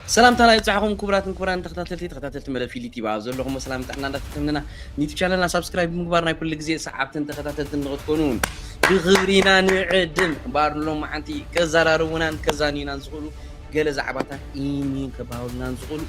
ሰላምታና ይብጻሕኹም ኩቡራትን ኩቡራን ተኸታተልቲ ተኸታተልቲ መደብ ፊሊ ቲቪ ኣብ ዘለኹሞ ሰላም ጥዕና እንዳተተምነና ኒቱ ቻነልና ሳብስክራይብ ብምግባር ናይ ኩሉ ግዜ ሰዓብትን ተኸታተልትን ንኽትኮኑ ብኽብሪና ንዕድም እምበኣር ሎማዓንቲ ከዘራርቡናን ከዛንዩናን ዝኽእሉ ገለ ዛዕባታት ኢኒን ከባህሉናን ዝኽእሉ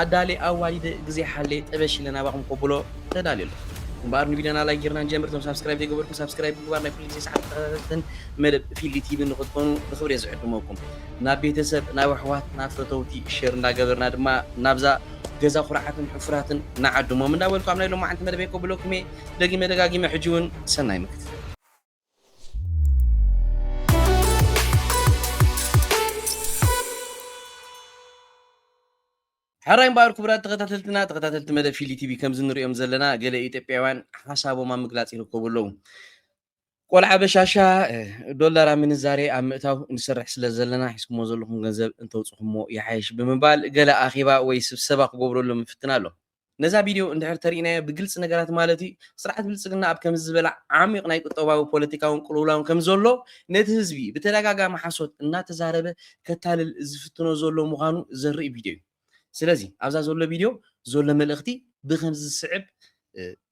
ኣዳሌ ኣዋዲደ ግዜ ሓሌ ጠበሽ ኢለ ናባኹም ከብሎ ተዳልየ ኣለኹ እምበኣር ንቪድዮና ላይክ ጌርና ንጀምር እቶም ሳብስክራይብ ዘይገበርኩም ሳብስክራይብ ምግባር ናይ ኩሉ ግዜ ሰዓብትን ተኸታተልትን መደብ ፊሊ ቲቪ ንኽትኮኑ ብኽብሪ ዝዕድመኩም ናብ ቤተሰብ ናብ ኣሕዋት ናብ ፈተውቲ ሸር እንዳገበርና ድማ ናብዛ ገዛ ኩርዓትን ሕፉራትን ንዓድሞም እንዳበልኩ ኣብ ናይ ሎማዓንቲ መደበይ ከብለኩም እየ ደጊመ ደጋጊመ ሕጂ ውን ሰናይ ምክትታል። ሕራይ እምበኣር ክቡራት ተኸታተልትና ተኸታተልቲ መደብ ፊሊ ቲቪ ከምዚ ንርእዮም ዘለና ገለ ኢትዮጵያውያን ሓሳቦም ኣብ ምግላጽ ይርከቡ ኣለዉ። ቆልዓ በሻሻ ዶላር ኣብ ምንዛሬ ኣብ ምእታው ንሰርሕ ስለ ዘለና ሒዝኩሞ ዘለኹም ገንዘብ እንተውጽኹሞ ይሓይሽ ብምባል ገለ ኣኼባ ወይ ስብሰባ ክገብረሎም ይፍትን ኣሎ። ነዛ ቪድዮ እንድሕር ተሪእናዮ ብግልጺ ነገራት ማለት እዩ ስርዓት ብልጽግና ኣብ ከምዚ ዝበለ ዓሚቕ ናይ ቁጠባዊ ፖለቲካውን ቅልውላውን ከም ዘሎ ነቲ ህዝቢ ብተደጋጋሚ ሓሶት እናተዛረበ ከታልል ዝፍትኖ ዘሎ ምዃኑ ዘርኢ ቪድዮ እዩ። ስለዚ ኣብዛ ዘሎ ቪድዮ ዘሎ መልእኽቲ ብከምዚ ዝስዕብ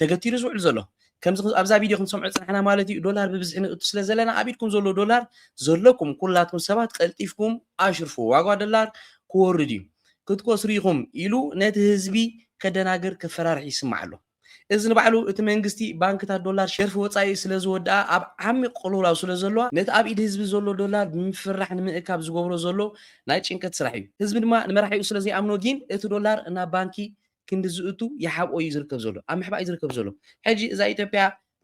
ተገቲሩ ዝውዕል ዘሎ። ከምዚ ኣብዛ ቪድዮ ክንሰምዖ ዝጸናሕና ማለት እዩ ዶላር ብብዝሒ ንእቱ ስለ ዘለና ኣብ ኢድኩም ዘሎ ዶላር ዘለኩም ኩላትኩም ሰባት ቀልጢፍኩም ኣሽርፍዎ ዋጋ ዶላር ክወርድ እዩ ክትከስሩ ኢኹም ኢሉ ነቲ ህዝቢ ከደናግር ከፈራርሕ ይስማዕ ኣሎ። እዚ ንባዕሉ እቲ መንግስቲ ባንክታት ዶላር ሸርፊ ወጻኢ ስለ ዝወድኣ ኣብ ዓሚቕ ቅልውላው ስለ ዘለዋ ነቲ ኣብ ኢድ ህዝቢ ዘሎ ዶላር ብምፍርራሕ ንምእካብ ዝገብሮ ዘሎ ናይ ጭንቀት ስራሕ እዩ። ህዝቢ ድማ ንመራሒኡ ስለ ዘይኣምኖ ጊን እቲ ዶላር ናብ ባንኪ ክንዲ ዝእቱ ይሓብኦ እዩ ዝርከብ ዘሎ ኣብ ምሕባእ እዩ ዝርከብ ዘሎ ሕጂ እዛ ኢትዮጵያ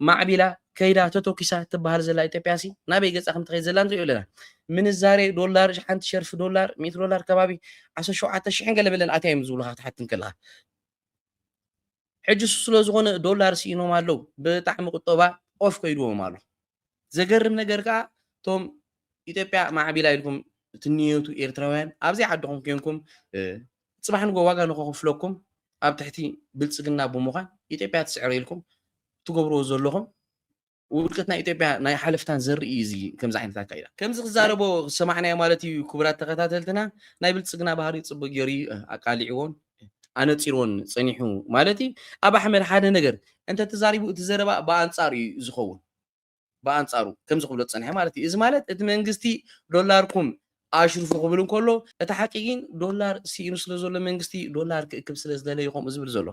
ማዕቢላ ከይዳ ተተኪሳ ትበሃል ዘላ ኢትዮጵያ ሲ ናበይ ገፃ ከም ትኸይድ ዘላ ንሪኦ ኣለና ምንዛሬ ዶላር ሓንቲ ሸርፊ ዶላር ሚእቲ ዶላር ከባቢ ዓሰርተ ሸውዓተ ሽሕን ገለ በለን ኣትያ እዮም ዝብሉካ ክትሓቲ እንከለካ ሕጂ እሱ ስለ ዝኾነ ዶላር ስኢኖም ኣለዉ ብጣዕሚ ቁጠባ ኦፍ ከይድዎም ኣሎ ዘገርም ነገር ከኣ እቶም ኢትዮጵያ ማዕቢላ ኢልኩም ትንየቱ ኤርትራውያን ኣብዘይ ዓድኹም ኮንኩም ጽባሕ ንጎ ዋጋ ንኸኽፍለኩም ኣብ ትሕቲ ብልጽግና ብምዃን ኢትዮጵያ ትስዕር ኢልኩም ትገብርዎ ዘለኹም ውድቀት ናይ ኢትዮጵያ ናይ ሓለፍታን ዘርኢ እዩ እዚ ከምዚ ዓይነት ኣካይዳ ከምዚ ክዛረቦ ዝሰማዕናዮ ማለት እዩ ክቡራት ተኸታተልትና ናይ ብልጽግና ባህሪ ጽቡቅ ገይሩ እዩ ኣቃሊዕዎን ኣነጺርዎን ጸኒሑ ማለት እዩ። ኣብ ኣሕመድ ሓደ ነገር እንተ ተዛሪቡ እቲ ዘረባ ብኣንጻሩ እዩ ዝኸውን። ብኣንጻሩ ከምዚ ክብሎ ዝጸንሐ ማለት እዩ። እዚ ማለት እቲ መንግስቲ ዶላርኩም ኣሽርፉ ክብል እንከሎ እቲ ሓቂ ግን ዶላር ስኢኑ ስለ ዘሎ መንግስቲ ዶላር ክእክብ ስለ ዝደለየ እዩ ከምኡ ዝብል ዘሎ።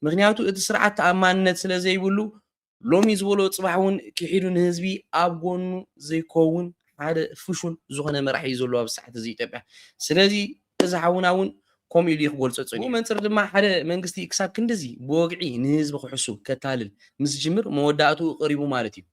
ምኽንያቱ እቲ ስርዓት ተኣማንነት ስለ ዘይብሉ ሎሚ ዝበሎ ፅባሕ እውን ኪሒዱ ንህዝቢ ኣብ ጎኑ ዘይኮውን ሓደ ፍሹል ዝኾነ መራሒ እዩ ዘሎ ኣብዚ ሰዓት እዚ ኢትዮጵያ ስለዚ እዚ ሓውና እውን ከምኡ ኢሉ እዩ ክገልፆ ፀኒሑ ብኡ መንፅር ድማ ሓደ መንግስቲ ክሳብ ክንድዚ ብወግዒ ንህዝቢ ክሕሱ ከታልል ምስ ዝጅምር መወዳእትኡ ቀሪቡ ማለት እዩ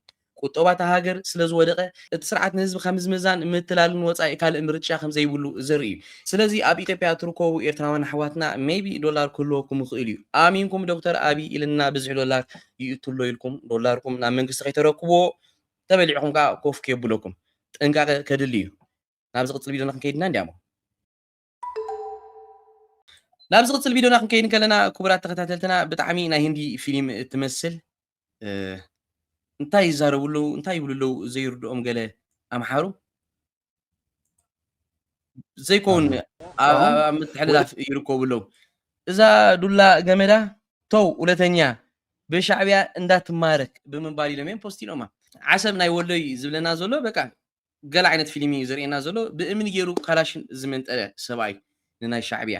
ቁጠባ እታ ሃገር ስለዝወደቐ እቲ ስርዓት ንህዝቢ ካብ ምዝምዛን ምትላልን ወፃኢ ካልእ ምርጫ ከምዘይብሉ ዘርኢ እዩ። ስለዚ ኣብ ኢትዮጵያ እትርከቡ ኤርትራውያን ኣሕዋትና ሜይቢ ዶላር ክህልወኩም ይኽእል እዩ ኣሚንኩም ዶክተር ኣቢይ ኢልና ብዝሒ ዶላር ይእቱ ኣሎ ኢልኩም ዶላርኩም ናብ መንግስቲ ከይተረክብዎ ተበሊዕኹም ከኣ ኮፍ ከየብለኩም ጥንቃቐ ከድሊ እዩ ናብ ዝቕጽል ቪድዮና ክንከይድ ኢና እንዲያሞ ናብ ዝቕጽል ቪድዮና ክንከይድ እንከለና ክቡራት ተኸታተልትና ብጣዕሚ ናይ ህንዲ ፊልም እትመስል እንታይ ይዛረቡ ኣለዉ እንታይ ይብሉ ኣለዉ ዘይርድኦም ገለ ኣምሓሩ ዘይኮውን ኣብ ኣብ- ኣብ ምትሕልላፍ ይርከቡ ኣለዉ እዛ ዱላ ገመዳ ተው ሁለተኛ ብሻዕቢያ እንዳትማረክ ብምባል ኢሎም እዮም ፖስት ኢሎማ ዓሰብ ናይ ወሎ እዩ ዝብለና ዘሎ በቃ ገለ ዓይነት ፊልም እዩ ዘርእየና ዘሎ ብእምኒ ገይሩ ካላሽን ዝመንጠለ ሰብኣይ ንናይ ሻዕቢያ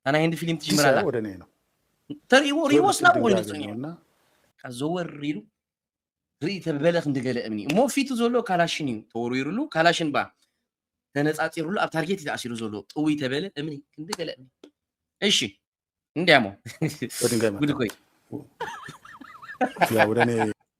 እታ ናይ ህንዲ ፊልም ትጅምር ኣላ ወደ እኔ ነው ተርእዎ ርእዎስ ናብኡ ኮይኑ ድንጋጌ ነውና ዘወር ኢሉ ርኢ ተበለ ክንዲ ገለ እምኒ እሞ ፊቱ ዘሎ ካላሽን እዩ ተወርዊሩሉ ካላሽን ባ ተነፃፂሩሉ ኣብ ታርጌት እዩ ተኣሲሩ ዘሎ ጥውይ ተበለ እምኒ ክንዲ ገለ እምኒ እሺ እንዲያሞ በድንጋይ ጉድ መታ ኮይ ያ ወደ እኔ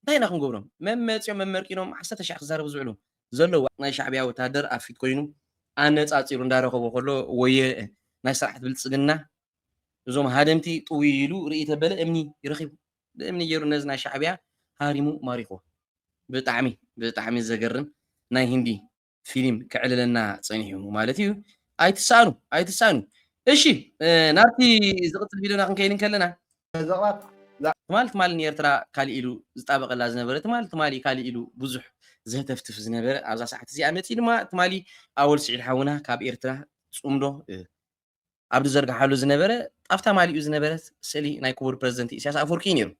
እንታይ ኢና ክንገብሮም መም መጺኦም መመርቂኖም ዓሰርተ ሽሕ ክዛረቡ ዝውዕሉ ዘለዉ ናይ ሻዕብያ ወተሃደር ኣብ ፊት ኮይኑ ኣነጻጺሩ እንዳረኸቦ ከሎ ወየ ናይ ስርዓት ብልጽግና እዞም ሃደምቲ ጥውይ ኢሉ ርእይ ተበለ እምኒ ይረኺቡ ብእምኒ ገይሩ ነዚ ናይ ሻዕብያ ሃሪሙ ማሪኽዎ ብጣዕሚ ብጣዕሚ ዘገርም ናይ ህንዲ ፊሊም ክዕልለና ጸኒሑ ማለት እዩ ኣይትሳኣኑ ኣይትሳኣኑ እሺ ናብቲ ዝቕጽል ቪድዮና ክንከይድ እንከለና ዘቕባት ትማል ትማል ንኤርትራ ካልእ ኢሉ ዝጣበቐላ ዝነበረ ትማል ትማሊ ካልእ ኢሉ ብዙሕ ዘህተፍትፍ ዝነበረ ኣብዛ ሰዓት እዚኣ መፂኡ ድማ ትማሊ ኣወል ስዒድ ሓውና ካብ ኤርትራ ፅምዶ ኣብ ዝዘርግሓሉ ዝነበረ ጣፍታ ማሊኡ ዝነበረት ስእሊ ናይ ክቡር ፕረዚደንት ኢሳያስ ኣፈወርቂ እዩ ነይሩ።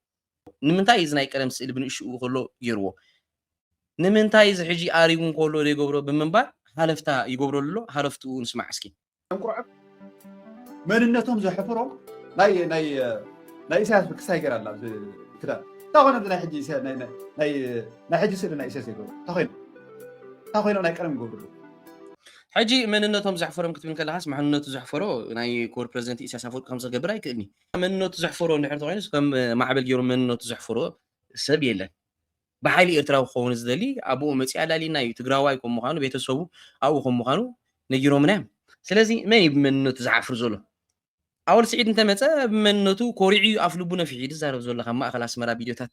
ንምንታይ እዚ ናይ ቀደም ስእሊ ብንእሽኡ ከሎ ገይርዎ? ንምንታይ እዚ ሕጂ ኣሪጉ እንከሎ ዘይገብሮ ብምባል ሃለፍታ ይገብረሉ ኣሎ፣ ሃለፍትኡ ንስማዕ እስኪ። እንቁርዕብ መንነቶም ዘሕፍሮም ናይ ናይ ናይ ኢሳያስ ብክሳይ ገራ ኣላ ኣብዚ ክዳን እንታይ ኮይኖም እዚ ናይ ሕጂ ኢሳያ- ናይ- ናይ- ናይ- ናይ ሕጂ ስእሊ ናይ ኢሳያስ ዘይገብሩ እንታይ ኮይኖም እንታይ ኮይኖም ናይ ቀደም ይገብሩ ኣለዉ ሕጂ መንነቶም ዘሕፈሮም ክትብል ከለኻስ መሕንነቱ ዘሕፈሮ ናይ ክቡር ፕረዚደንት ኢሳያስ ኣፈወርቂ ከምዚ ክገብር ኣይክእልን'ዩ። መንነቱ ዘሕፈሮ እንድሕር ተኾይኑስ ከም ማዕበል ጌሩ መንነቱ ዘሕፈሮ ሰብ የለን። ብሓይሊ ኤርትራዊ ክኸውን ዝደሊ ኣቡኡ መጺኡ ኣላልየና'ዩ። ትግራዋይ ከም ምዃኑ ቤተሰቡ ኣብኡ ከም ምዃኑ ነጊሮምና'ዮም። ስለዚ መን'ዩ ብመንነቱ ዝሓፍር ዘሎ? ኣወል ስዒድ እንተመጸ ብመንነቱ ኮሪዑ እዩ ኣፍልቡ ነፊሑ እዩ ዝዛረብ ዘሎ ካብ ማእኸል ኣስመራ ቪድዮታት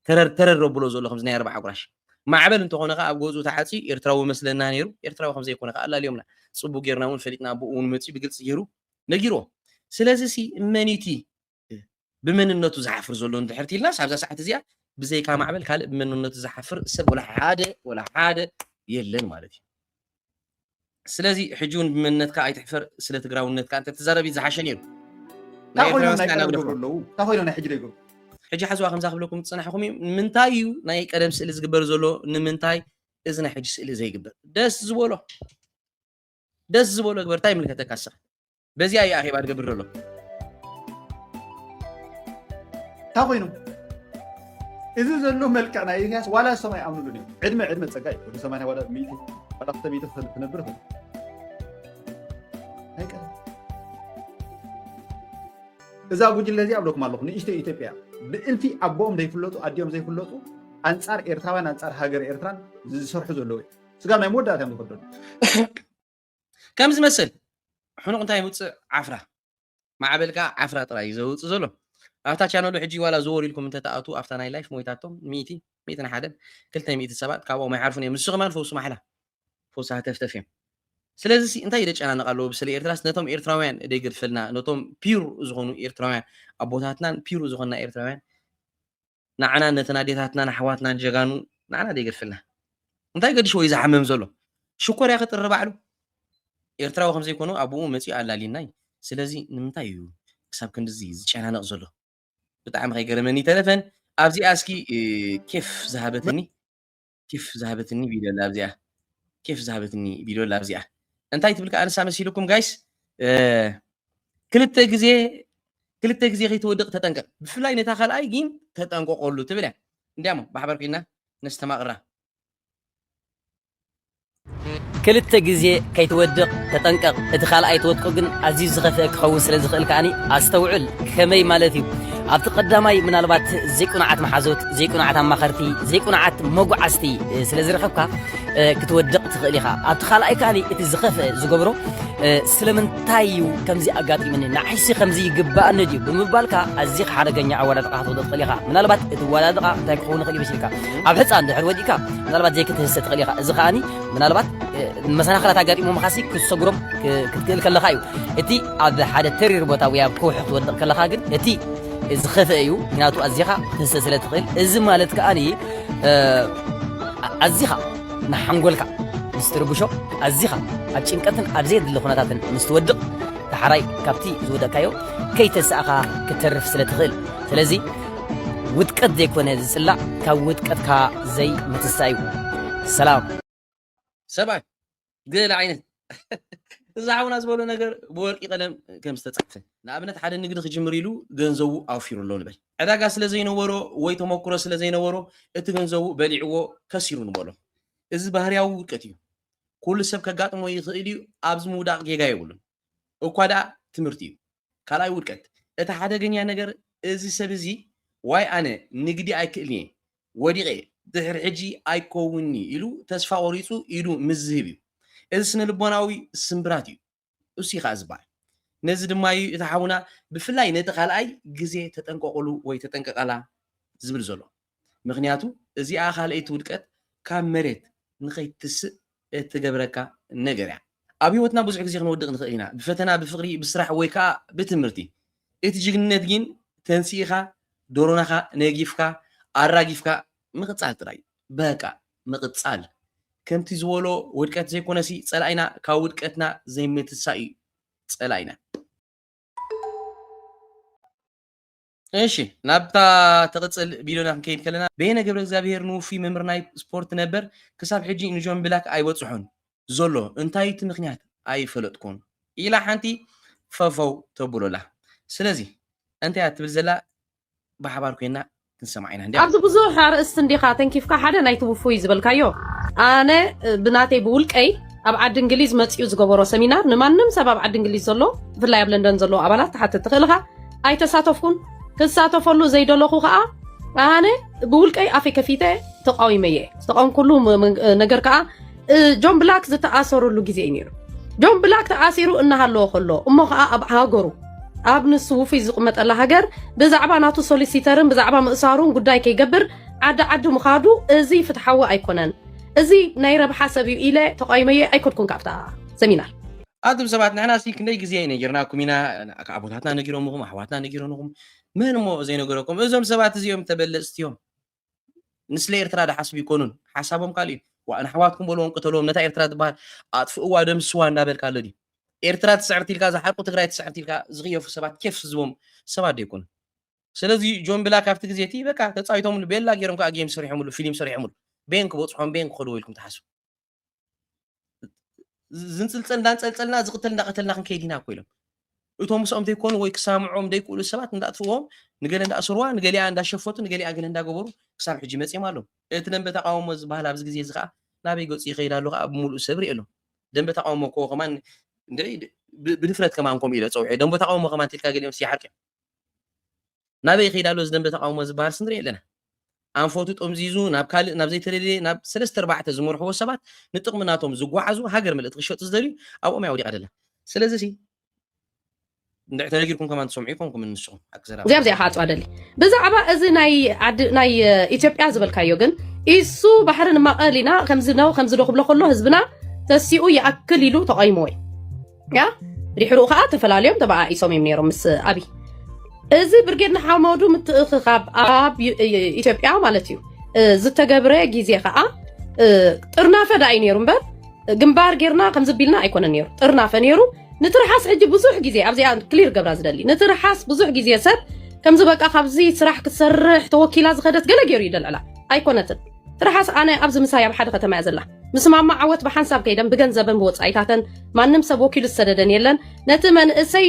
ተረር ተረር ኣብሎ ዘሎ ከምዚ ናይ ኣርብዓ ጉራሽ ማዕበል እንተኾነ ከኣ ኣብ ገዝኡ ተዓጽዩ ኤርትራዊ መስለና ነይሩ ኤርትራዊ ከም ዘይኮነ ከኣ ኣላልዮምና ጽቡቅ ጌርና እውን ፈሊጥና ኣቦኡ እውን መጽዩ ብግልጺ ገይሩ ነጊርዎ ስለዚ ሲ መኒቲ ብመንነቱ ዝሓፍር ዘሎ እንድሕር ትይልናስ ኣብዛ ሰዓት እዚኣ ብዘይካ ማዕበል ካልእ ብመንነቱ ዝሓፍር ሰብ ወላ ሓደ ወላ ሓደ የለን ማለት እዩ ስለዚ ሕጂ እውን ብመንነትካ ኣይትሕፈር ስለ ትግራውነትካ እንተ ትዛረብ ዝሓሸ ነይሩ ናይ ኮይኖም ናይ ቀደም ገብሩ ኣለዉ እንታይ ኮይኖም ናይ ሕጂ ዘይገብሩ ሕጂ ሓዝዋ ከምዛ ክብለኩም ዝፅናሕኹም እዩ ንምንታይ እዩ ናይ ቀደም ስእሊ ዝግበር ዘሎ ንምንታይ እዚ ናይ ሕጂ ስእሊ ዘይግበር ደስ ዝበሎ ደስ ዝበሎ ግበር እንታይ ይምልከተካ ንስኻ በዚኣ እዩ ኣኼባ ዝገብር ዘሎ እንታይ ኮይኑ እዚ ዘሎ መልክዕ ናይ ኢሳያስ ዋላ ሰም ኣይኣምኑሉን እዮም ዕድመ ዕድመ ፀጋ እዩ ወዲ ሰማንያ ዋላ ሚእቲ ዋላ ክልተ ሚእቲ ክነብር ይኽእል ኣይቀርም እዛ ጉጅለ እዚኣ ኣብለኩም ኣለኹ ንእሽቶ ኢትዮጵያ ብእልፊ ኣቦኦም ዘይፍለጡ ኣዲኦም ዘይፍለጡ ኣንፃር ኤርትራውያን ኣንፃር ሃገር ኤርትራን ዝሰርሑ ዘለዉ እዮም ስጋብ ናይ መወዳእታ እዮም ዝኸደሉ ከም ዝመስል ሕኑቕ እንታይ ውፅእ ዓፍራ ማዕበል ከዓ ዓፍራ ጥራይ እዩ ዘውፅእ ዘሎ ኣብታ ቻነሉ ሕጂ ዋላ ዘወር ኢልኩም እንተተኣቱ ኣብታ ናይ ላይፍ ሞይታቶም ሚእቲ ሚእትን ሓደን ክልተ ሚእቲ ሰባት ካብኦም ኣይሓልፉን እዮም ንሱ ከማን ፈውሲ ማሕላ ፈውሲ ሃተፍተፍ እዮም ስለዚ እንታይ ደጨናንቕ ኣለዎ ብስለ ኤርትራስ ነቶም ኤርትራውያን ደገድፈልና ነቶም ፒር ዝኾኑ ኤርትራውያን ኣቦታትናን ፒር ዝኾንና ኤርትራውያን ናዓና ነተን ኣዴታትናን ኣሕዋትናን ጀጋኑ ናዓና ዶ ይገድፈልና እንታይ ገድሽዎ እዩ ዝሓምም ዘሎ ሽኮር ያኺ ጥሪ ባዕሉ ኤርትራዊ ከም ዘይኮኑ ኣቡኡ መጺኡ ኣላልዩና እዩ ስለዚ ንምንታይ እዩ ክሳብ ክንድዚ ዝጨናነቕ ዘሎ ብጣዕሚ ከይገረመኒ ይተረፈን ኣብዚኣ እስኪ ኬፍ ዝሃበትኒ ኬፍ ዝሃበትኒ ቪድዮ ኣላ ኣብዚኣ ኬፍ ዝሃበትኒ ቪድዮ ኣላ ኣብዚኣ እንታይ ትብል ከዓ ንሳ መሲልኩም ጋይስ ክልተ ግዜ ክልተ ግዜ ከይትወድቕ ተጠንቀቕ ብፍላይ ነታ ካልኣይ ግን ተጠንቀቐሉ ትብል እያ እንዲያሞ ብሓበር ኮይና ነስተማቕራ ክልተ ግዜ ከይትወድቕ ተጠንቀቕ፣ እቲ ካልኣይ ትወድቆ ግን ኣዝዩ ዝኸፍኤ ክኸውን ስለ ዝኽእል ከኣ ኣስተውዕል። ከመይ ማለት እዩ? ኣብቲ ቀዳማይ ምናልባት ዘይቅኑዓት መሓዙት፣ ዘይቅኑዓት ኣማኸርቲ፣ ዘይቅኑዓት መጉዓዝቲ ስለ ዝረኸብካ ክትወድቕ ትኽእል ኢኻ። ኣብቲ ካልኣይ ከኣ እቲ ዝኸፍኤ ዝገብሮ ስለምንታይ እዩ ከምዚ ኣጋጢሙኒ ንዓይሲ ከምዚ ይግባኣኒ ድዩ ብምባልካ ኣዚኻ ሓደገኛ ኣወዳድቓ ክትወድቕ ትኽእል ኢኻ ምናልባት እቲ ኣወዳድቓ እንታይ ክኸውን ይኽእል እዩ መሲልካ ኣብ ሕፃን ድሕር ወዲእካ ምናልባት ዘይክትህሰ ትኽእል ኢኻ እዚ ከዓኒ ምናልባት መሰናኽላት ኣጋጢሞ ምኻሲ ክትሰጉሮም ክትክእል ከለኻ እዩ እቲ ኣብ ሓደ ተሪር ቦታ ወይ ኣብ ከውሒ ክትወድቕ ከለኻ ግን እቲ ዝኸፍአ እዩ ምክንያቱ ኣዚኻ ክትህሰ ስለ ትኽእል እዚ ማለት ከዓኒ ኣዚኻ ንሓንጎልካ ምስ ትርብሾ ኣዚኻ ኣብ ጭንቀትን ኣብ ዘየድሊ ኩነታትን ምስ ትወድቕ ተሓራይ ካብቲ ዝወደቕካዮ ከይተሰእኻ ክትተርፍ ስለ ትኽእል ስለዚ ውድቀት ዘይኮነ ዝጽላእ ካብ ውድቀትካ ዘይ ምትሳእ እዩ ሰላም ሰብኣይ ገለ ዓይነት እዚ ሓውና ዝበሎ ነገር ብወርቂ ቀለም ከም ዝተጻሕፈ ንኣብነት ሓደ ንግዲ ክጅምር ኢሉ ገንዘቡ ኣውፊሩ ኣሎ ንበል ዕዳጋ ስለ ዘይነበሮ ወይ ተመክሮ ስለ ዘይነበሮ እቲ ገንዘቡ በሊዕዎ ከሲሩ ንበሎ እዚ ባህርያዊ ውድቀት እዩ ኩሉ ሰብ ከጋጥሞ ይኽእል እዩ ኣብዚ ምውዳቕ ጌጋ የብሉን እኳ ደኣ ትምህርቲ እዩ ካልኣይ ውድቀት እቲ ሓደገኛ ነገር እዚ ሰብ እዚ ዋይ ኣነ ንግዲ ኣይክእልን'የ ወዲቐ ድሕሪ ሕጂ ኣይከውንን'ዩ ኢሉ ተስፋ ቆሪጹ ኢዱ ምስ ዝህብ እዩ። እዚ ስነልቦናዊ ስምብራት እዩ እሱይ ከኣ ዝበሃል። ነዚ ድማ እዩ እቲ ሓውና ብፍላይ ነቲ ካልኣይ ግዜ ተጠንቀቑሉ ወይ ተጠንቀቓላ ዝብል ዘሎ። ምኽንያቱ እዚኣ ካልኣይቲ ውድቀት ካብ መሬት ንኸይትስእ እትገብረካ ነገር እያ። ኣብ ህይወትና ብዙሕ ግዜ ክንወድቕ ንኽእል ኢና፣ ብፈተና፣ ብፍቕሪ፣ ብስራሕ ወይ ከኣ ብትምህርቲ። እቲ ጅግንነት ግን ተንሲእኻ፣ ዶሮናኻ ነጊፍካ፣ ኣራጊፍካ ምቕጻል ጥራይ እዩ። በቃ ምቕጻል። ከምቲ ዝበሎ ውድቀት ዘይኮነሲ ጸላኢና ካብ ውድቀትና ዘይምትሳእ እዩ ጸላኢና። እሺ ናብታ ትቕፅል ቢሎና ክንከይድ ከለና በየነ ገብረ እግዚኣብሄር ንውፉይ መምህር ናይ ስፖርት ነበር ክሳብ ሕጂ ንጆን ብላክ ኣይበፅሖን ዘሎ እንታይ እቲ ምክንያት ኣይፈለጥኩን ኢላ ሓንቲ ፈፈው ተብሎ ኣላ ስለዚ እንታይ እያ ትብል ዘላ ብሓባር ኮይና ክንሰምዓ ኢና እንዲያ ኣብዚ ብዙሕ ኣርእስቲ እንዲኻ ተንኪፍካ ሓደ ናይቲ ውፉይ ዝበልካዮ ኣነ ብናተይ ብውልቀይ ኣብ ዓዲ እንግሊዝ መፅኡ ዝገበሮ ሰሚናር ንማንም ሰብ ኣብ ዓዲ እንግሊዝ ዘሎ ብፍላይ ኣብ ለንደን ዘለዎ ኣባላት ትሓትት ትኽእል ኢኻ ኣይተሳተፍኩን ክሳተፈሉ ዘይደለኹ ከዓ ኣነ ብውልቀይ ኣፌ ከፊተ ተቃዊመ እየ ዝተቃወምኩሉ ነገር ከዓ ጆን ብላክ ዝተኣሰሩሉ ግዜ እዩ ነይሩ ጆን ብላክ ተኣሲሩ እናሃለዎ ከሎ እሞ ከዓ ኣብ ሃገሩ ኣብ ንሱ ውፍይ ዝቕመጠላ ሃገር ብዛዕባ ናቱ ሶሊሲተርን ብዛዕባ ምእሳሩን ጉዳይ ከይገብር ዓዲ ዓዲ ምኻዱ እዚ ፍትሓዊ ኣይኮነን እዚ ናይ ረብሓ ሰብ እዩ ኢለ ተቃዊመየ ኣይኮድኩን ካብታ ሰሚናር ኣቱም ሰባት ንሕና ሲ ክንደይ ግዜ ነጊርናኩም ኢና ኣቦታትና ነጊሮምኹም ኣሕዋትና ነጊሮንኹም መን እሞ ዘይነገረኩም እዞም ሰባት እዚኦም ተበለጽቲ እዮም ንስለ ኤርትራ ድሓስቡ ይኮኑን ሓሳቦም ካልእ እዩ ዋእ ንኣሕዋትኩም በልዎም ቅተልዎም ነታ ኤርትራ ትበሃል ኣጥፍእዋ ደምስዋ እንዳበልካ ኣሎ ድዩ ኤርትራ ትስዕርቲ ኢልካ ዝሓቁ ትግራይ ትስዕርቲ ኢልካ ዝኽየፉ ሰባት ኬፍ ዝቦም ሰባት ደይኮኑ ስለዚ ጆን ብላ ካብቲ ግዜ እቲ በቃ ተፃዊቶምሉ ቤላ ገይሮም ከዓ ጌም ሰሪሖምሉ ፊልም ሰሪሖምሉ ቤን ክበፅሖም ቤን ክኸድዎ ኢልኩም ትሓስቡ ዝንፅልፀል እንዳንፀልፀልና ዝቕተል እንዳቐተልና ክንከይድ ኢና እኮ ኢሎም እቶም ምስኦም ዘይኮኑ ወይ ክሰምዖም ዘይክእሉ ሰባት እንዳእትዎም ንገለ እንዳእስርዋ ንገሊኣ እንዳሸፈቱ ንገሊኣ ገለ እንዳገበሩ ክሳብ ሕጂ መፂኦም ኣለዉ እቲ ደንበ ተቃውሞ ዝበሃል ኣብዚ ግዜ እዚ ከዓ ናበይ ገፁ ይኸይድ ኣሎ ከዓ ብምሉእ ሰብ ርኢ ኣሎ ደንበ ተቃውሞ እኮ ከማን ብድፍረት ከማን ከምኡ ኢለ ፀውዐ ደንበ ተቃውሞ ከማን ትልካ ገሊኦም ስይሓርቅ እዮም ናበይ ይኸይድ ኣሎ እዚ ደንበ ተቓውሞ ዝበሃልስ ንርኢ ኣለና። ኣንፈቱ ጠምዚዙ ናብ ካልእ ናብ ዘይተደልየ ናብ ሰለስተ ኣርባዕተ ዝመርሕዎ ሰባት ንጥቕሚ ናቶም ዝጓዓዙ ሃገር ምልእቲ ክሸጡ ዝደልዩ ኣብኦም እያ ወዲቓ ዘላ። ስለዚሲ እንድዒ ተነጊርኩም ከማን ትሰምዑ ኢኹምኩም ንስኹም ሓቂ ዘረባ እዚኣ እዚኣ ክዓፅዋ ደሊ ብዛዕባ እዚ ናይ ዓዲ ናይ ኢትዮጵያ ዝበልካዮ ግን ኢሱ ባሕሪ ንማቐል ኢና ከምዚ ነው ከምዚ ዶ ክብሎ ከሎ ህዝብና ተሲኡ ይኣክል ኢሉ ተቐይሞ እዩ ያ ድሕሩ ከዓ ተፈላለዮም ተበኣኢሶም እዮም ነይሮም ምስ ኣብይ እዚ ብርጌድ ንሓመዱ ምትእኽኻብ ኣብ ኢትዮጵያ ማለት እዩ ዝተገብረ ግዜ ከዓ ጥርናፈ ዳ እዩ ነይሩ እምበር ግንባር ጌርና ከምዚ ቢልና ኣይኮነ ነይሩ ጥርናፈ ነይሩ ንትርሓስ ሕጂ ብዙሕ ግዜ ኣብዚኣ ክሊር ገብራ ዝደሊ ንትርሓስ ብዙሕ ግዜ ሰብ ከምዚ በቃ ካብዚ ስራሕ ክትሰርሕ ተወኪላ ዝኸደት ገለ ገይሩ ይደልዕላ ኣይኮነትን ትርሓስ ኣነ ኣብዚ ምሳይ ኣብ ሓደ ከተማ እያ ዘላ ምስ ማማ ዓወት ብሓንሳብ ከይደን ብገንዘበን ብወፃኢታተን ማንም ሰብ ወኪሉ ዝሰደደን የለን ነቲ መንእሰይ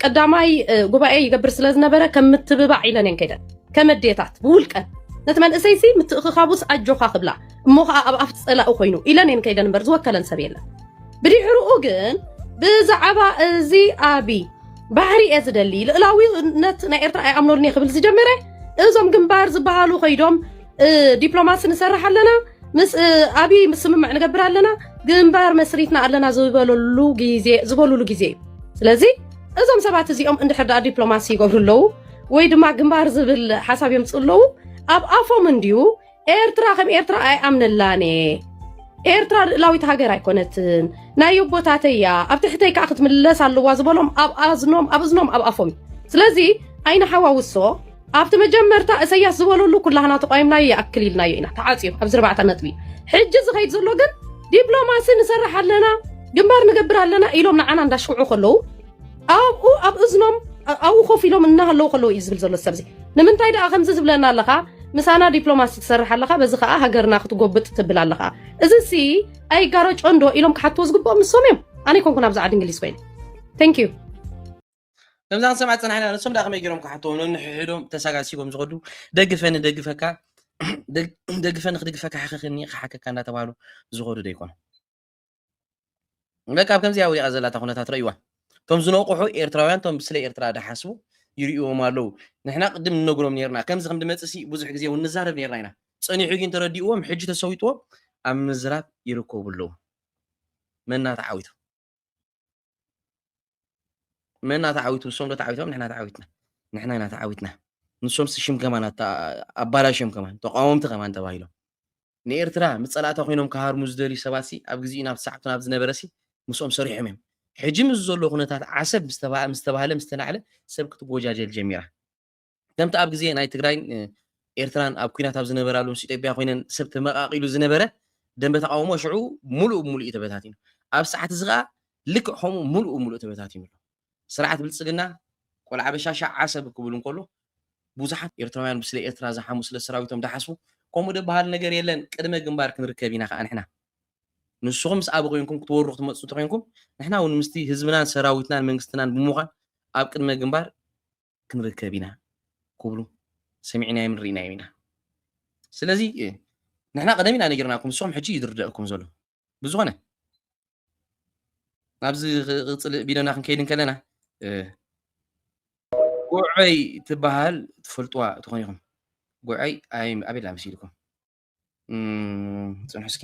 ቀዳማይ ጉባኤ ይገብር ስለ ዝነበረ ከም ምትብባዕ ኢለን እየን ከይደን ከመዴታት ብውልቀን ነቲ መንእሰይ ሲ ምትእኽኻቡስ ኣጆኻ ክብላ እሞ ከዓ ኣብ ኣፍ ፀላኡ ኮይኑ ኢለን እየን ከይደን እምበር ዝወከለን ሰብ የለን ብድሕርኡ ግን ብዛዕባ እዚ ኣቢ ባሕሪ እየ ዝደሊ ልእላዊነት ናይ ኤርትራ ኣይኣምነሉን እየ ክብል ዝጀመረ እዞም ግንባር ዝበሃሉ ከይዶም ዲፕሎማሲ ንሰርሕ ኣለና ምስ ኣብይ ስምምዕ ንገብር ኣለና ግንባር መስሪትና ኣለና ዝበለሉ ግዜ ዝበሉሉ ግዜ እዩ ስለዚ እዞም ሰባት እዚኦም እንድሕር ድኣ ዲፕሎማሲ ይገብሩ ኣለዉ ወይ ድማ ግንባር ዝብል ሓሳብ የምፅ ኣለዉ ኣብ ኣፎም እንድዩ ኤርትራ ከም ኤርትራ ኣይኣምነላን እየ ኤርትራ ልእላዊት ሃገር ኣይኮነትን ናይ ኣቦታተይ እያ ኣብ ትሕተይ ከዓ ክትምለስ ኣለዋ ዝበሎም ኣብ ኣዝኖም ኣብ እዝኖም ኣብ ኣፎም እዩ ስለዚ ኣይንሓዋውሶ ኣብቲ መጀመርታ እሰያስ ዝበለሉ ኩላህና ተቋይምናዮ ይኣክል ኢልናዮ ኢና ተዓፅዮ ኣብዚ ርባዕተ ነጥቢ ሕጂ ዝኸይድ ዘሎ ግን ዲፕሎማሲ ንሰርሕ ኣለና ግንባር ንገብር ኣለና ኢሎም ንዓና እንዳሽኩዑ ከለዉ ኣብኡ ኣብ እዝኖም ኣብኡ ኮፍ ኢሎም እናሃለዉ ከለዉ እዩ ዝብል ዘሎ ሰብ እዚ ንምንታይ ደኣ ከምዚ ዝብለና ኣለኻ ምሳና ዲፕሎማሲ ትሰርሕ ኣለኻ በዚ ከዓ ሃገርና ክትጎብጥ ትብል ኣለኻ እዚ ሲ ኣይጋረጮ እንዶ ኢሎም ክሓትዎ ዝግብኦም ንሶም እዮም ኣነ ይኮንኩን ኣብዚ ዓዲ እንግሊዝ ኮይኑ ቴንክ ዩ ከምዛ ክንሰምዓ ዝጸናሕና ንሶም ደኣ ከመይ ገይሮም ክሓትዎ ነንሕሕዶም ተሳጋሲጎም ዝኸዱ ደግፈኒ ደግፈካ ደግፈኒ ክድግፈካ ሕኸኽኒ ክሓከካ እንዳተባሃሉ ዝኸዱ ዶ ይኮኑ በቃ ኣብ ከምዚኣ ወዲቓ ዘላታ ኩነታት ረእይዋ እቶም ዝነቑሑ ኤርትራውያን እቶም ስለ ኤርትራ ድሓስቡ ይርእዎም ኣለዉ ንሕና ቅድም ንነግሮም ነርና ከምዚ ከም ድመፅእ ሲ ብዙሕ ግዜ እውን ንዛረብ ነርና ኢና ፀኒሑ ግን ተረዲእዎም ሕጂ ተሰዊጥዎም ኣብ ምዝራብ ይርከቡ ኣለዉ መና ተዓዊቱ መና ተዓዊቱ ንሶም ዶ ተዓዊቶም ንሕና ተዓዊትና ንሕና ኢና ተዓዊትና ንሶምሲ ሽም ከማን ኣባላሽዮም ከማን ተቃወምቲ ከማን ተባሂሎም ንኤርትራ ምስ ጸላእታ ኮይኖም ክሃርሙ ዝደልዩ ሰባትሲ ኣብ ግዜኡ ናብ ሰዓብቱ ናብ ዝነበረሲ ምስኦም ሰሪሖም እዮም ሕጂ ምስ ዘሎ ኩነታት ዓሰብ ምስ ተባህለ ምስ ተናዕለ ሰብ ክትጎጃጀል ጀሚራ ከምቲ ኣብ ግዜ ናይ ትግራይን ኤርትራን ኣብ ኩናት ኣብ ዝነበራሉ ምስ ኢትዮጵያ ኮይነን ሰብ ተመቃቂሉ ዝነበረ ደንበ ተቃውሞ ሽዑ ሙሉእ ብሙሉእ እዩ ተበታቲኑ። ኣብ ሰዓት እዚ ከኣ ልክዕ ከምኡ ሙሉእ ብሙሉእ ተበታቲኑ ኣሎ። ስርዓት ብልጽግና ቆልዓ በሻሻ ዓሰብ ክብል እንከሎ ብዙሓት ኤርትራውያን ብስለ ኤርትራ ዝሓሙ ስለ ሰራዊቶም ድሓስቡ ከምኡ ድበሃል ነገር የለን ቅድመ ግንባር ክንርከብ ኢና ከኣ ንሕና ንስኹም ምስ ኣበ ኮይንኩም ክትወሩ ክትመጽኡ እንተኮይንኩም ንሕና እውን ምስቲ ህዝብናን ሰራዊትናን መንግስትናን ብምዃን ኣብ ቅድመ ግንባር ክንርከብ ኢና ክብሉ ሰሚዕናዮምን ርኢናዮም ኢና። ስለዚ ንሕና ቀደም ኢና ነጊርናኩም ንስኹም ሕጂ እዩ ዝርደኣኩም ዘሎ። ብዝኾነ ናብዚ ክቕፅል ቢዶና ክንከይድ እንከለና ጉዐይ ትበሃል ትፈልጥዋ ትኾኑ ኢኹም። ጉዐይ ኣቤላ መሲልኩም ፅንሑ እስኪ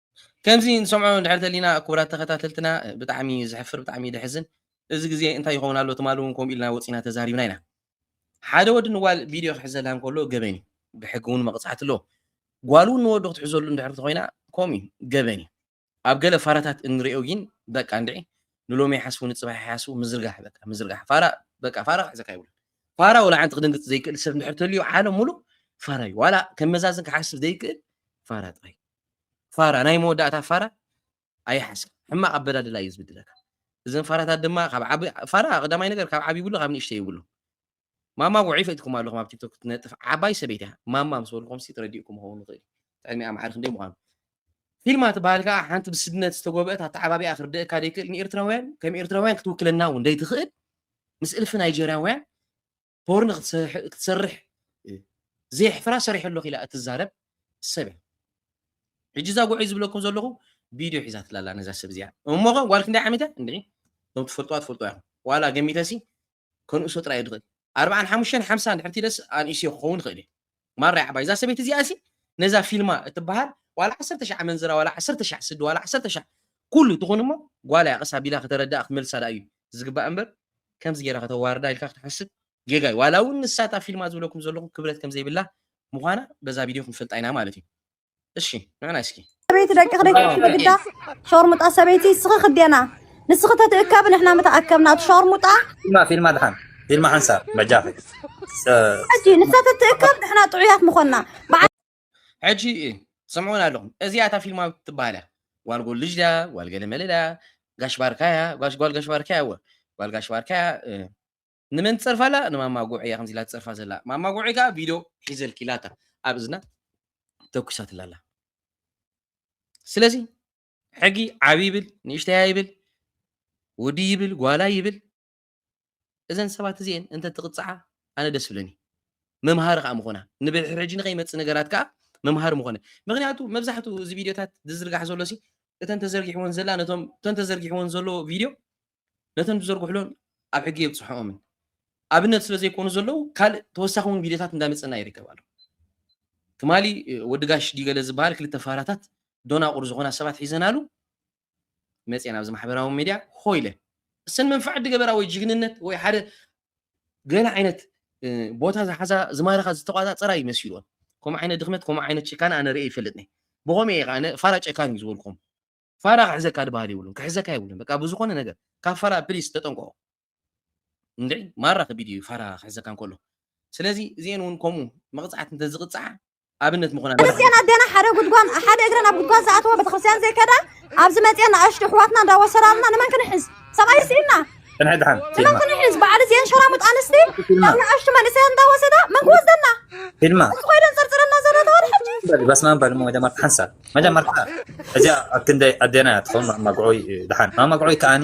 ከምዚ ንሰምዖ እንድሕር ተሊና ክቡራት ተኸታተልትና ብጣዕሚ እዩ ዘሕፍር ብጣዕሚ እዩ ዘሕዝን እዚ ግዜ እንታይ ይኸውን ኣሎ ትማሊ እውን ከምኡ ኢልና ወፂና ተዛሪብና ኢና ሓደ ወዲ ንጓል ቪድዮ ክሕዘላ እንከሎ ገበን እዩ ብሕጊ እውን መቕፃዕቲ ኣለዎ ጓል እውን ንወዱ ክትሕዘሉ እንድሕር ተኾይና ከምኡ እዩ ገበን እዩ ኣብ ገለ ፋራታት እንሪኦ ግን በቃ እንድዒ ንሎሚ ይሓስቡ ንፅባሕ ይሓስቡ ምዝርጋሕ በቃ ምዝርጋሕ ፋራ በቃ ፋራ ክሕዘካ ይብሉን ፋራ ወላ ሓንቲ ክድንግፅ ዘይክእል ሰብ እንድሕር ተልዩ ዓለም ሙሉእ ፋራ እዩ ዋላ ከም መዛዝን ክሓስብ ዘይክእል ፋራ ጥራይ ፋራ ናይ መወዳእታ ፋራ ኣይሓስብ ሕማቅ ኣበዳድላ እዩ ዝብድለካ እዘን ፋራታት ድማ ካብ ዓቢ ፋራ ቀዳማይ ነገር ካብ ዓቢ ይብሉ ካብ ንእሽተ ይብሉ ማማ ጉዒ ፈኢትኩም ኣለኹም ኣብ ቲክቶክ ትነጥፍ ዓባይ ሰበይቲ እያ ማማ ምስ በልኩም ሲ ትረዲእኩም ክኸውን ይኽእል ጥዕሚኣ ማዕሪ ክንደይ ምዃኑ ፊልማ ትበሃል ከዓ ሓንቲ ብስድነት ዝተጎብአት ኣተዓባቢኣ ክርድእካ ደይክእል ንኤርትራውያን ከም ኤርትራውያን ክትውክለና እውን ደይትኽእል ምስ እልፊ ናይጀርያውያን ፖርን ክትሰርሕ ክትሰርሕ ዘየሕፍራ ሰሪሐ ኣለኹ ኢላ እትዛረብ ሰብ እያ ሕጂ እዛ ጉዑይ ዝብለኩም ዘለኹ ቪድዮ ሒዛትላ ኣላ ነዛ ሰብ እዚኣ እሞ ኸ ጓል ክንደይ ዓመት እያ እንድዒ እቶም ትፈልጥዋ ትፈልጥዋ ኢኹም ዋላ ገሚተሲ ከንእሶ ጥራይ ድኽእል ኣርብዓን ሓሙሽተን ሓምሳ ድሕርቲ ደስ ኣንእስዮ ክኸውን ይኽእል እዩ ማራ ያዕባይ እዛ ሰበይቲ እዚኣሲ ነዛ ፊልማ እትበሃል ዋላ ዓሰርተ ሻዕ ኣመንዝራ ዋላ ዓሰርተ ሻዕ ስዲ ዋላ ዓሰርተ ሻዕ ኩሉ ትኹን እሞ ጓላ እያ ቀስ ኣቢላ ከተረድኣ ክትመልሳ ደኣ እዩ ዝግባእ እምበር ከምዚ ጌራ ከተዋርዳ ኢልካ ክትሓስብ ጌጋ እዩ ዋላ እውን ንሳ እታ ፊልማ ዝብለኩም ዘለኹ ክብረት ከም ዘይብላ ምዃና በዛ ቪድዮ ክንፈልጣ ኢና ማለት እዩ እሺ ንዕና እስኪ ሰበይቲ ደቂ ክደይትእክቢ ግዳ ሸርሙጣ ሰበይቲ ንስኺ ክዴና ንስኺ ተትእከብ ንሕና ምተኣከብና እቲ ሸርሙጣ ፊልማ ፊልማ ድሓን ፊልማ ሓንሳብ በጃኺ ሕጂ ንሳ ተትእከብ ንሕና ጥዑያት ምኾና ሕጂ ስምዑን ኣለኹም እዚኣ እታ ፊልማ ትበሃል እያ ጓል ጎልጅ ድያ ጓል ገለመለ ድያ ጋሽ ባርካያ ጓል ጋሽ ባርካያ እወ ጓል ጋሽ ባርካያ ንመን ትጸርፋ ኣላ ንማማ ጉዕ እያ ከምዚ ኢላ ትጸርፋ ዘላ ማማ ጉዕ ከኣ ቪድዮ ሒዘልኪ ኢላታ ኣብ እዝና ተኩሳትላ ኣላ ስለዚ ሕጊ ዓቢ ይብል ንእሽተያ ይብል ወዲ ይብል ጓላ ይብል እዘን ሰባት እዚኤን እንተ ትቕጽዓ ኣነ ደስ ብለኒ መምሃሪ ከዓ ምኾና ንብሕጂ ንኸይመፅ ነገራት ከዓ መምሃሪ ምኾነ ምክንያቱ መብዛሕትኡ እዚ ቪድዮታት ዝዝርጋሕ ዘሎ ሲ እተን ተዘርጊሕወን ዘላ ነቶም እተን ተዘርጊሕወን ዘሎ ቪድዮ ነተን ዝዘርግሕሎን ኣብ ሕጊ የብፅሐኦምን ኣብነት ስለ ዘይኮኑ ዘለዉ ካልእ ተወሳኺ እውን ቪድዮታት እንዳመፀና ይርከብ ኣሎ ትማሊ ወዲ ጋሽ ዲገለ ዝበሃል ክልተ ፋራታት ዶናቑር ዝኾና ሰባት ሒዘናሉ መፅኤን ኣብዚ ማሕበራዊ ሚድያ ሆ ኢለ እሰን መንፍዕ ድገበራ ወይ ጅግንነት ወይ ሓደ ገለ ዓይነት ቦታ ዝሓዛ ዝማረኻ ዝተቋፃፀራ እዩ መሲልዎን ከምኡ ዓይነት ድኽመት ከምኡ ዓይነት ጭካነ ኣነ ርኤ ይፈልጥ ነ ብኸምኡ እየ ከዓ ፋራ ጨካን እዩ ዝበልኩም ፋራ ክሕዘካ ድባሃል የብሉን ክሕዘካ የብሉን በቃ ብዝኾነ ነገር ካብ ፋራ ፕሊስ ተጠንቀቁ እንድዒ ማራ ከቢድ እዩ ፋራ ክሕዘካ እንከሎ ስለዚ እዚኤን እውን ከምኡ መቕጻዕቲ እንተዝቕጽዓ ኣብነት ምኾና ክርስትያን ኣዴና ሓደ ጉድጓን ሓደ እግረን ኣብ ጉድጓን ዝኣተወ ቤተክርስትያን ዘይከዳ ኣብዚ መፅኤን ንኣሽቱ ኣሕዋትና እንዳወሰዳልና ንመን ክንሕዝ ሰብኣይ ስኢና ንመን ክንሕዝ በዓል እዚአን ሸራሙጥ ኣንስቲ ናብ ንኣሽቱ መንእሰያት እንዳወሰዳ መን ክወስደና ፊልማ ኮይደን ፅርፅረና ዘለዋ ሕጂ በስማን በልሞ ደማ ሓንሳብ መጀመርታ እዚኣ ኣብ ክንደይ ኣዴና እያ ትኸውን ማማግዖይ ድሓን ማማግዖይ ከዓኒ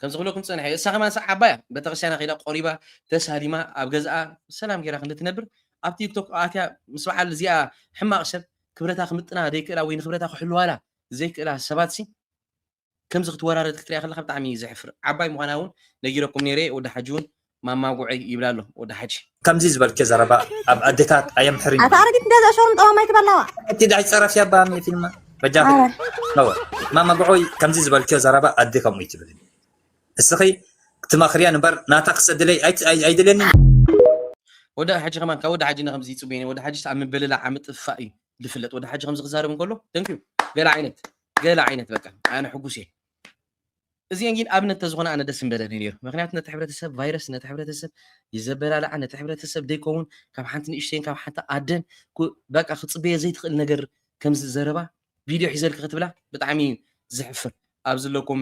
ከምዚ ክብለኩም ፀንሐ እሳ ከማን ሰ ዓባያ ቤተክርስትያና ከይዳ ቆሪባ ተሳሊማ ኣብ ገዝኣ ሰላም ገይራ ክንዲ ትነብር ኣብ ቲክቶክ ኣትያ ምስ በዓል እዚኣ ሕማቕ ሰብ ክብረታ ክምጥና ዘይክእላ ወይ ንክብረታ ክሕልዋላ ዘይክእላ ሰባት ሲ ከምዚ ክትወራረድ ክትሪኣ ከለካ ብጣዕሚ እዩ ዘሕፍር ዓባይ ምኳና ውን ነጊረኩም ነይረ ወዲ ሓጂ ውን ማማ ጉዕይ ይብላ ኣሎ ወዲ ሓጂ። ከምዚ ዝበልኪ ዘረባ ኣብ ኣዴታት ኣየምሕርን ኣታ እዩ። ኣረጊት ገዛእ ሾሩም ጠዋም ኣይትበላዋ። እቲ ዳሕይ ጸረፍያ እባ ኣሜ ፊልማ በጃኺ ኣረ። ነውሪ ማማ ጉዑይ ከምዚ ዝበልክዮ ዘረባ ኣደ ከምኡ ኣይትብልን እስኺ ክትመኽርየን እምበር ናታ ክሰድለይ ኣይ ኣይ ኣይደልየንን እዩ። ወዲ ሓጂ ከማን ካብ ወዲ ሓጂ ንከምዚ ይጽበዮ ነይረ ወዲ ሓጂስ ኣብ ምብልላዕ ኣብ ምጥፍፋእ እዩ ዝፍለጥ ወዲ ሓጂ ከምዚ ክዛረብ እንከሎ ደንቅዩ ገለ ዓይነት ገለ ዓይነት በቃ ኣነ ሕጉስ እየ እዚኤን ግን ኣብነት ተዝኾና ኣነ ደስ ምበለኒ ነይሩ ምክንያቱ ነቲ ሕብረተሰብ ቫይረስ ነቲ ሕብረተሰብ ይዘበላልዓ ነቲ ሕብረተሰብ ደይከውን ካብ ሓንቲ ንእሽተይን ካብ ሓንቲ ኣደን በቃ ክፅበየ ዘይትኽእል ነገር ከምዚ ዘረባ ቪድዮ ሒዘልኪ ክትብላ ብጣዕሚ ዘሕፍር ኣብዚ ኣለኩም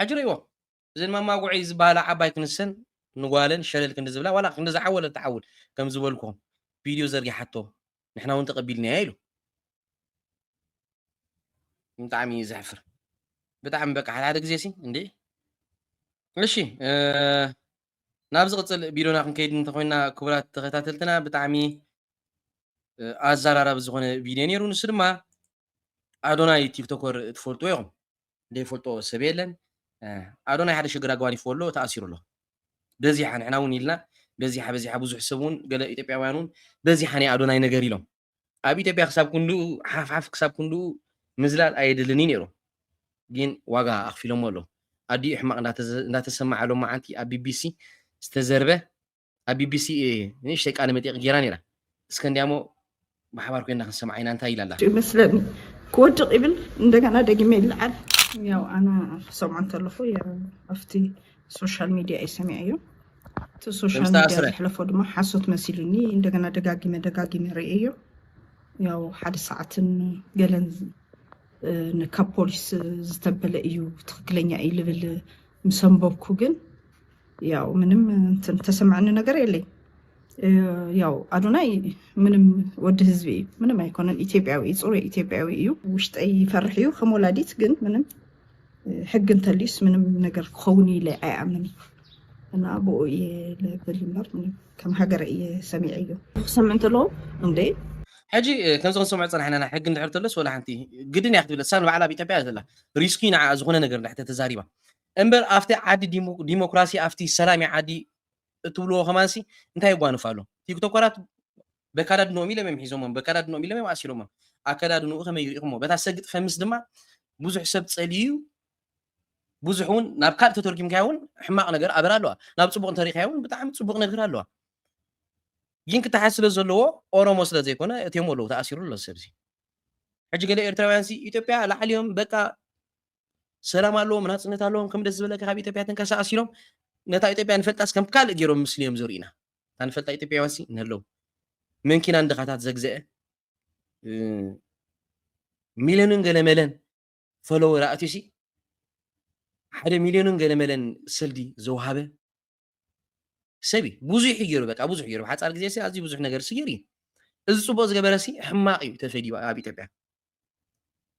ሕጂ ርእይዎ እዘን ማማጉዕይ ዝባሃላ ዓባይ ክንሰን ንጓለን ሸለል ክንዲ ዝብላ ዋላ ክንድዚ ዓወል ኣትዓውል ከም ዝበልኩም ቪድዮ ዘርጊሓቶ ንሕና ውን ተቀቢልናያ ኢሉ ብጣዕሚ እዩ ዘሕፍር ብጣዕሚ በቃ ሓደ ሓደ ግዜ ሲ እንዴ እሺ ናብ ዝቕፅል ቪድዮና ክንከይድ እንተኮይና ክቡራት ተኸታተልትና ብጣዕሚ ኣዘራራቢ ዝኾነ ቪድዮ ነይሩ ንሱ ድማ ኣዶናይ ቲክቶከር ትፈልጥዎ ኢኹም ዘይፈልጦ ሰብ የለን ኣዶናይ ሓደ ሽግር ኣጓኒፍዎ ኣሎ ተኣሲሩ ኣሎ በዚሓ ንሕና እውን ኢልና በዚሓ በዚሓ ብዙሕ ሰብ እውን ገለ ኢትዮጵያውያን እውን በዚሓ ናይ ኣዶናይ ነገር ኢሎም ኣብ ኢትዮጵያ ክሳብ ክንድኡ ሓፍሓፍ ክሳብ ክንድኡ ምዝላል ኣየድልን እዩ ነይሩ ግን ዋጋ ኣኽፊሎሞ ኣሎ ኣዲኡ ሕማቕ እንዳተሰማዓ ሎም መዓልቲ ኣብ ቢቢሲ ዝተዘርበ ኣብ ቢቢሲ ንእሽተይ ቃለ መጠይቕ ጌራ ነይራ። እስከንድያሞ ብሓባር ኮይና ክንሰምዓ ኢና እንታይ ኢላ ኣላ? ይመስለኒ ክወድቕ ይብል እንደገና ደጊመ ይለዓል ያው ኣነ ክሰምዖ እንተለኹ ኣብቲ ሶሻል ሚድያ እዩ ሰሚዐዮ እቲ ሶሻል ሚድያ ዘሕለፎ ድማ ሓሶት መሲሉኒ እንደገና ደጋጊመ ደጋጊመ ርእየዮ ያው ሓደ ሰዓትን ገለን ካብ ፖሊስ ዝተበለ እዩ ትክክለኛ እዩ ልብል ምሰንበብኩ ግን ያው ምንም እንትን ተሰማዕኒ ነገር የለይ ያው ኣዶናይ ምንም ወዲ ህዝቢ እዩ ምንም ኣይኮነን ኢትዮጵያዊ እዩ ፅሩይ ኢትዮጵያዊ እዩ ውሽጠይ ይፈርሕ እዩ ከም ወላዲት ግን ምንም ሕጊ እንተልዩስ ምንም ነገር ክኸውን ኢለ ኣይኣምን እዩ እና ብኡ እየ ልብል እምበር ምንም ከም ሃገረ እየ ሰሚዐ እዩ ክሰምዕ እንተለዎ እንደ ሕጂ እ፣ ከምዚ ክንሰምዖ ፀናሕና ኢና ሕጊ እንድሕር ተሎስ ወላ ሓንቲ ግድን እያ ክትብል እሳ ንባዕላ ኣብ ኢትዮጵያ እያ ዘላ ሪስኪ ንዓኣ ዝኾነ ነገር እንድሕር ተዛሪባ እምበር ኣፍቲ ዓዲ ዲሞክራሲ ኣፍቲ ሰላሚ ዓዲ እትብልዎ ከማንሲ እንታይ የጓንፍ ኣሎ ቲክቶከራት በካዳድንኦም ኢሎም እዮም ሒዞሞም በካዳድንኦም ኢሎም እዮም ኣሲሮሞም ኣከዳድንኡ ከመይ ሪኢኹሞ በታ ሰግጥ ከምስ ድማ ብዙሕ ሰብ ጸልዩ ብዙሕ እውን ናብ ካልእ ተተርጊምካዮ እውን ሕማቕ ነገር ኣበር ኣለዋ ናብ ፅቡቕ እንተሪእካዮ እውን ብጣዕሚ ፅቡቕ ነገር ኣለዋ ግን ክተሓዝ ስለ ዘለዎ ኦሮሞ ስለ ዘይኮነ እትዮም ኣለዉ ተኣሲሩ ኣሎ ሰብዚ ሕጂ ገለ ኤርትራውያን ሲ ኢትዮጵያ ላዕሊዮም በቃ ሰላም ኣለዎም ናጽነት ኣለዎም ከም ደስ ዝበለካ ካብ ኢትዮጵያ ተንቀሳቀስ ኢሎም ነታ ኢትዮጵያ ንፈልጣስ ከም ካልእ ገይሮም ምስሊ እዮም ዘርእዩና እታ ንፈልጣ ኢትዮጵያውያን ሲ ንህለው መንኪናን ድኻታት ዘግዘአ ሚልዮንን ገለመለን ፈለወር ኣእትዩሲ ሓደ ሚልዮንን ገለመለን ሰልዲ ዘውሃበ ሰብ እዩ ብዙሕ እዩ ገይሩ በቃ ብዙሕ ገይሩ ብሓፃር ግዜ ሲ ኣዝዩ ብዙሕ ነገር ሲ ገይሩ እዩ እዚ ፅቡቅ ዝገበረ ሲ ሕማቅ እዩ ተፈዲዩ ኣብ ኢትዮጵያ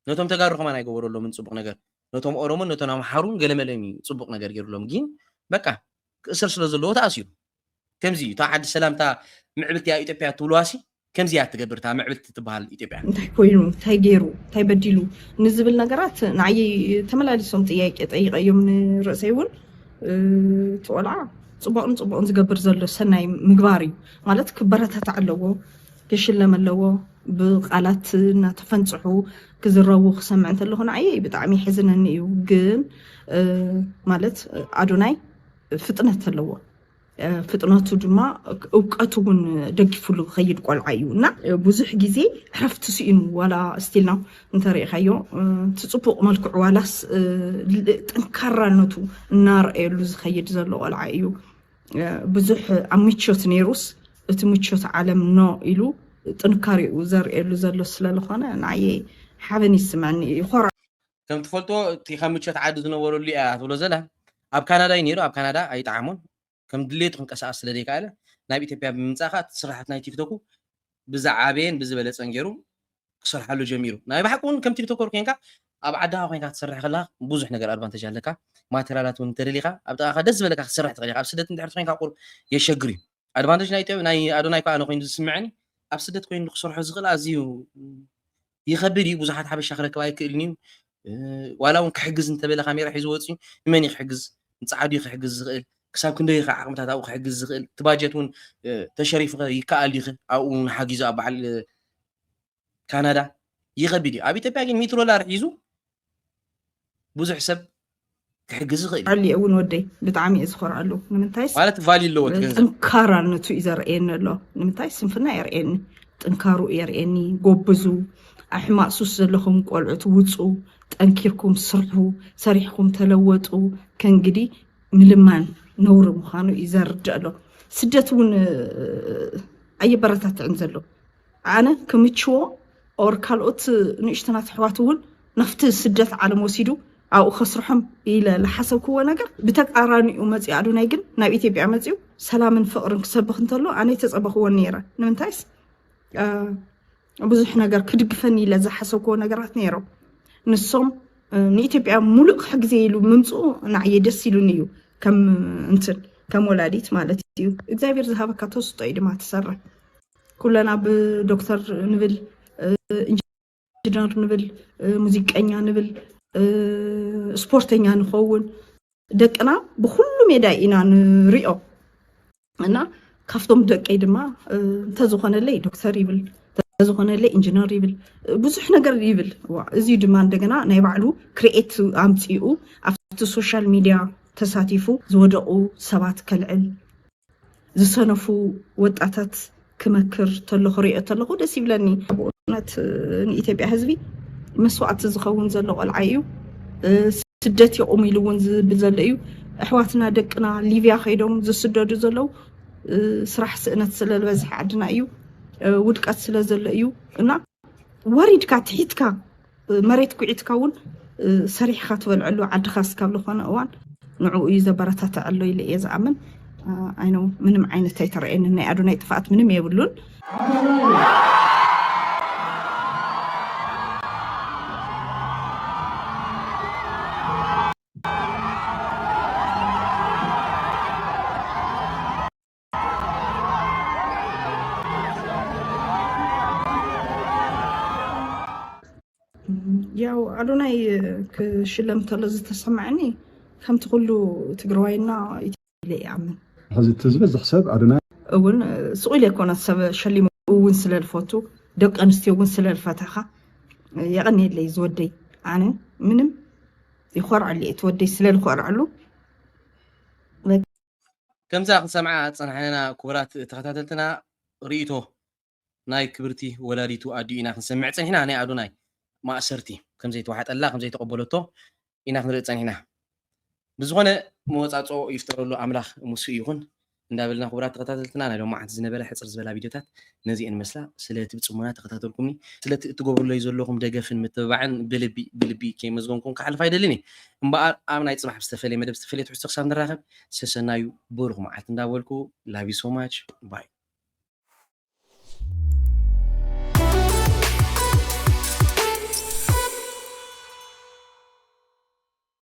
ነቶም ተጋሩ ከማን ኣይገበረሎምን ፅቡቅ ነገር ነቶም ኦሮሞን ነቶም ኣምሓሩን ገለመለም እዩ ፅቡቅ ነገር ገይሩሎም ግን በቃ ክእሰር ስለ ዘለዎ ተኣሲሩ ከምዚ እዩ እታ ዓዲ ሰላምታ ምዕብልቲ ኣብ ኢትዮጵያ ትብልዋ ሲ ከምዚ እያ እትገብር እታ ምዕብልቲ እትበሃል ኢትዮጵያ። እንታይ ኮይኑ፣ እንታይ ገይሩ፣ እንታይ በዲሉ ንዝብል ነገራት ንዓየይ ተመላሊሶም ጥያቄ ጠይቐዮም ንርእሰይ እውን እቲ ቆልዓ ፅቡቕን ፅቡቕን ዝገብር ዘሎ ሰናይ ምግባር እዩ ማለት ክበረታታዕ ኣለዎ ክሽለም ኣለዎ ብቃላት እናተፈንፅሑ ክዝረቡ ክሰምዕ እንተለኹ ንዓየይ ብጣዕሚ ይሕዝነኒ እዩ ግን ማለት ኣዶናይ ፍጥነት ኣለዎ ፍጥነቱ ድማ እውቀቱ እውን ደጊፍሉ ክኸይድ ቆልዓ እዩ እና ብዙሕ ግዜ ዕረፍቲ ስኢኑ ዋላ ስቲልና እንተሪኢኻዮ እቲ ፅቡቕ መልክዑ ዋላስ ጠንካራነቱ እናረኣየሉ ዝኸይድ ዘሎ ቆልዓ እዩ ብዙሕ ኣብ ምቾት ነይሩስ እቲ ምቾት ዓለም ኖ ኢሉ ጥንካሬኡ ዘርእየሉ ዘሎ ስለዝኾነ ንዓየ ሓበን ይስመዐኒ ይኮራ ከም ትፈልጦ እቲ ካብ ምቸት ዓዲ ዝነበረሉ እያ ትብሎ ዘላ ኣብ ካናዳ እዩ ነይሩ ኣብ ካናዳ ኣይጠዓሞን ከም ድሌቱ ክንቀሳቀስ ስለ ዘይከኣለ ናብ ኢትዮጵያ ብምምፃእ ከዓ ስራሕቲ ናይ ቲክቶኩ ብዝዓበየን ብዝበለፀን ገይሩ ክሰርሓሉ ጀሚሩ ናይ ባሓቂ እውን ከም ቲክቶከር ኮንካ ኣብ ዓድኻ ኮንካ ክትሰርሕ ከለካ ብዙሕ ነገር ኣድቫንቴጅ ኣለካ ማቴሪያላት እውን እንተደሊካ ኣብ ጥቃካ ደስ ዝበለካ ክትሰርሕ ትኽእል ኢኻ ኣብ ስደት እንድሕር ኮንካ ቁር የሸግር እዩ ኣድቫንተጅ ናይ ኢትዮ ናይ ኣዶናይ ከኣ ኮይኑ ዝስምዐኒ ኣብ ስደት ኮይኑ ንክሰርሖ ዝኽእል ኣዝዩ ይኸብድ እዩ ብዙሓት ሓበሻ ክረክብ ኣይክእልን እዩ ዋላ እውን ክሕግዝ እንተበለ ካሜራ ሒዙ ወፅዩ ንመን እዩ ክሕግዝ ንፀዓዱ እዩ ክሕግዝ ዝኽእል ክሳብ ክንደይ ይኸ ዓቕምታት ኣብኡ ክሕግዝ ዝኽእል እቲ ባጀት እውን ተሸሪፉ ይከኣል ይኽእል ኣብኡ ሓጊዙ ኣብ በዓል ካናዳ ይኸቢድ እዩ ኣብ ኢትዮጵያ ግን ሚትሮ ላር ሒዙ ብዙሕ ሰብ ክሕግዝ ይኽእል እዩ ኣሊ እውን ወደይ ብጣዕሚ እየ ዝኮርኣሉ ንምንታይስ ማለት ቫልዩ ኣለዎ እቲ ገንዘብ ጥንካራነቱ እዩ ዘርእየኒ ኣሎ ንምንታይ ስንፍና የርእየኒ ጥንካሩ የርእየኒ ጎብዙ ኣብ ሕማቅ ሱስ ዘለኹም ቆልዑት ውፁ ጠንኪርኩም ስርሑ ሰሪሕኩም ተለወጡ ከእንግዲ ምልማን ነውሪ ምዃኑ እዩ ዘርድእ ኣሎ ስደት እውን ኣየበረታትዕን ዘሎ ኣነ ክምችዎ or ካልኦት ንእሽቶናት ኣሕዋት እውን ናብቲ ስደት ዓለም ወሲዱ ኣብኡ ከስርሖም ኢለ ልሓሰብክዎ ነገር ብተቃራኒኡ መፂኡ ኣዶናይ ግን ናብ ኢትዮጵያ መፂኡ ሰላምን ፍቅርን ክሰብኽ እንተሎ ኣነ ኣይተፀበኽዎን ነይረ ንምንታይስ ብዙሕ ነገር ክድግፈኒ ኢለ ዝሓሰብክዎ ነገራት ነይሮም ንሶም ንኢትዮጵያ ሙሉእ ክሕግዘ ኢሉ ምምፅኡ ንዓየ ደስ ኢሉኒ እዩ ከም እንትን ከም ወላዲት ማለት እዩ እግዚኣብሔር ዝሃበካ ተስጦ እዩ ድማ ትሰርሕ ኩለና ብዶክተር ንብል ኢንጂነር ንብል ሙዚቀኛ ንብል ስፖርተኛ ንኸውን ደቅና ብኩሉ ሜዳይ ኢና ንሪኦ እና ካብቶም ደቀይ ድማ እንተዝኾነለይ ዶክተር ይብል እንተዝኾነለይ ኢንጂነር ይብል ብዙሕ ነገር ይብል እዚ ድማ እንደገና ናይ ባዕሉ ክርኤት ኣምፂኡ ኣብቲ ሶሻል ሚድያ ተሳቲፉ ዝወደቑ ሰባት ከልዕል ዝሰነፉ ወጣታት ክመክር ተሎ ክሪኦ ተለኹ ደስ ይብለኒ ብእውነት ንኢትዮጵያ ህዝቢ መስዋእቲ ዝኸውን ዘሎ ቆልዓ እዩ ስደት ይቑም ኢሉ እውን ዝብል ዘሎ እዩ ኣሕዋትና ደቅና ሊብያ ከይዶም ዝስደዱ ዘለው ስራሕ ስእነት ስለዝበዝሐ ዓድና እዩ ውድቀት ስለ ዘሎ እዩ እና ወሪድካ ትሒትካ መሬት ኩዒትካ እውን ሰሪሕካ ትበልዐሉ ዓድኻ እስካብ ዝኾነ እዋን ንዕኡ እዩ ዘበረታተዐሎ ኢለ እየ ዝኣምን ኣይነ ምንም ዓይነት ኣይተረእየኒ ናይ ኣዶናይ ጥፍኣት ምንም የብሉን ያው ኣዶናይ ክሽለም ተሎ ዝተሰማዕኒ ከምቲ ኩሉ ትግራዋይና ኢለ ይኣምን ሕዚ እቲ ዝበዝሕ ሰብ ኣዶናይ እውን ስቁ ኢለ ኮነ ሰብ ሸሊሙ እውን ስለ ዝፈቱ ደቂ ኣንስትዮ እውን ስለ ዝፈተኻ የቐኒየለይ ዝወደይ ኣነ ምንም ይኮርዐሉ እየ ትወደይ ስለ ዝኮርዐሉ ከምዛ ክንሰምዓ ዝጸናሕነና ኩቡራት ተኸታተልትና ሪኢቶ ናይ ክብርቲ ወላዲቱ ኣዲኡ ኢና ክንሰምዕ ጸኒሕና ናይ ኣዶናይ ማእሰርቲ ከምዘይተዋሕጠላ ከምዘይተቐበለቶ ኢና ክንርኢ ጸኒሕና ብዝኾነ መወጻጽኦ ይፍጠረሉ ኣምላኽ ሙሱ ይኹን እንዳበልና ኩቡራት ተኸታተልትና ናይ ሎማዓንቲ ዝነበረ ሕጽር ዝበላ ቪድዮታት ነዚኤን መስላ ስለቲ ብጽሞና ተኸታተልኩምኒ ስለቲ እትገብሩለይ ዘለኹም ደገፍን ምትብባዕን ብልቢ ብልቢ ከይመስገንኩም ክሓልፍ ኣይደልን እየ እምበኣር ኣብ ናይ ጽባሕ ብዝተፈለየ መደብ ዝተፈለየ ትሕዝቶ ክሳብ ንራኸብ ሰሰናዩ ብሩኽ መዓልቲ እንዳበልኩ love you so much bye